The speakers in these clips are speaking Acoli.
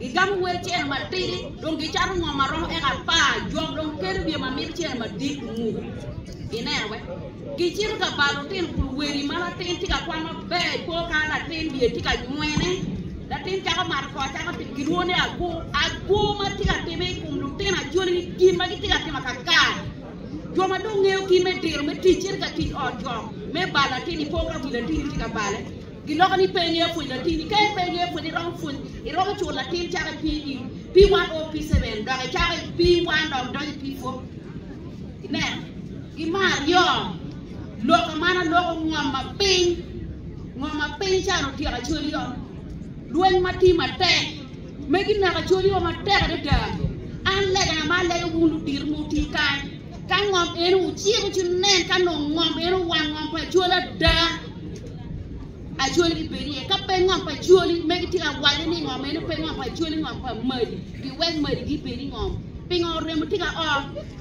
Gigamo wer cene matidi, dong gicato ngom ma romo eka apar, jok dong kelo wiye ma mito cene madit onguko. Ineno be? Gicito ka bal lutino kun weri ma latin tye ka kwam maber i kor kare latin wiye tye ka nywene. Latin cako mato kor cako timo gilwongo ni agu. Agu ma tye ka timme i kom lutino acoli-ni gin ma gitye ka timo akakar. Jo ma dong ngeyo kit me diro me tic cito ka tic ot jok me bal latin i kor ka wi latin-ni tye ka bale. Giloko ni pe ingeyo pwony latinni. Ka pe ingeyo pwony iromo pwony iromo cur latin cako i pi i pi one o pi seven dok icako i pi one dok idonyo i pi four. Inen gi me aryo loko man aloko ngom ma piny ngom ma piny can otyeko acoliyo lweny ma ti matek me gineko acoliyo matek adada an legana ma alego wun ludito mu ti kany Ka ngom eno wuciko ci wunen ka nongo ngom eno wang ngom pa cwal ada acwali gibedi iye ka pe ngom pa cwali megi tye ka waco ni ngom eno pe ngom pa cwali ngom pa madi giwek madi gibedi ngom pingo remo tye ka o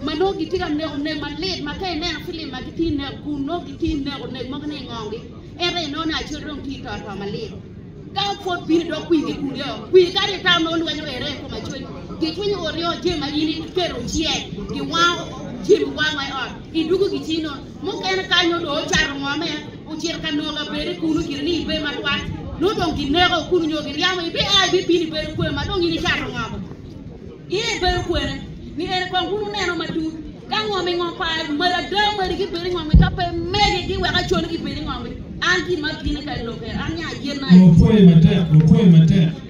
ma nongo gitye ka neko nek malit ma ka ineno filim ma gitye neko kun nongo gitye neko nek mogo ni ingongi ento ineno ni acwali dong tye toto malit Ka opwod bini dok kwir ki kun yo, kwir kadi i tam ma olwenyo ere i kom acwec, gicwinyo ot yo jami ma in iketo oce, giwango jami wang wa i ot, idugo gicii nono. Mukene ka nyo dong ocato ngo me ocito ka nongo abede kunu gire ni ibe matwal, nongo dong gineko kunu nyo giryamo, ibiaa ibibino ibedo kwer ma dong in icato ngo bo. Iye ibedo kwene ni en kong wun wuneno matut ka ngo me ngo pa mari ada mari gi bedo ngo ngi ka pe mege gi wek acwalo gi bedo ngo ngi an gin ma bino ka i loke an nya yen ai.